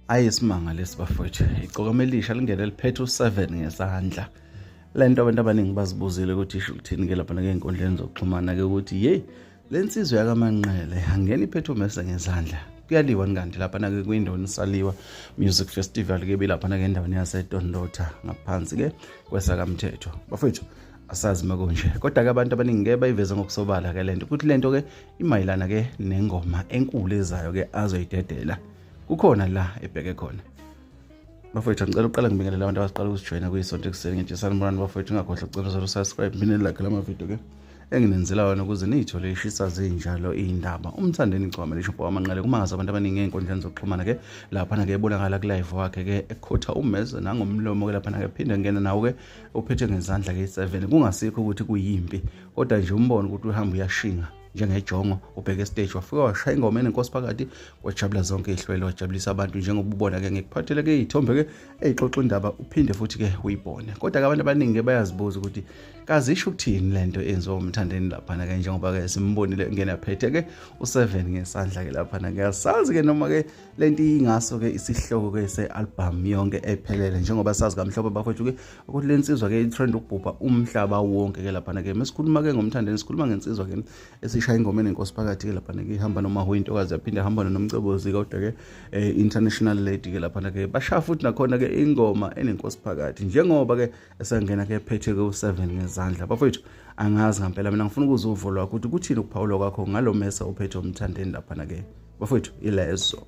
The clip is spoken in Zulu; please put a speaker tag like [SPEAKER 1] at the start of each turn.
[SPEAKER 1] ayi isimanga lesi bafowethu igcokama elisha lingene liphethe u-7 ngesandla le nto abantu abaningi bazibuzile ukuthi isho ukuthini ke lapha nakey'nkundleni zokuxhumana-ke ukuthi yeyi le nsizwa yakamanqele angena iphethe umese ngezandla kuyaliwa kanti lapha nake kwindaweni saliwa music festival ke bilapha nake endaweni yasedondotha ngaphansi ke kwesakamthetho bafowethu asazi makunje kodwa-ke abantu abaningi-ke bayiveze ngokusobala-ke le nto ukuthi le nto-ke imayelana ke nengoma enkulu ezayo ke azoyidedela kukhona la ebheke khona bafowethu ngicela uqala ngibingelela abantu abaqala ukusijoyina kuyisonto ekuseni ngetshisani murani bafowethu ingakhohlwa ukucela zalo subscribe mina lakhe lamavidiyo ke enginenzela wona ukuze niyithole ishisa zinjalo iy'ndaba umthandeni igcwama lishobho wamanqele kumangaza abantu abaningi ey'nkundleni zokuxhumana ke laphana ke ebonakala kulive wakhe ke ekhotha umeze nangomlomo ke laphana ke phinde ngena nawo ke uphethe ngezandla ke i-seven kungasikho ukuthi kuyimpi kodwa nje umbona ukuthi uhamba uyashinga njengejongo ubheke estage wafika washaya ingoma enenkosi phakathi wajabula zonke ihlwele wajabulisa abantu njengoba ubona ke ngikuphathele ke iy'thombe ke eyixoxa indaba uphinde futhi ke uyibone kodwa ke abantu abaningi ke bayazibuza ukuthi kazisho ukuthini le nto enziwa umthandeni laphana ke njengoba ke simbonile ngena phethe ke u-seven ngesandla ke laphana ke asazi ke noma ke le nto iyingaso ke isihloko ke se-albhamu yonke ephelele njengoba sazi kamhlophe bafowethu ke ukuthi le nsizwa ke itrend ukubhubha umhlaba wonke ke laphana ke mesikhuluma ke ngomthandeni sikhuluma ngensizwa ke esishaya ingoma enenkosi phakathi ke laphana ke ihamba noma huyintokazi yaphinde hamba nomcebozi kodwa ke eh, international lady ke laphana ke bashaya futhi nakhona ke ingoma enenkosi phakathi njengoba ke esangena ke phethe ke u7 ngezandla bafethu angazi ngempela mina ngifuna ukuzwa uvo lwakho ukuthi kuthini ukuphawula kwakho ngalomesa ophethe umthandeni laphana ke bafethu ilezo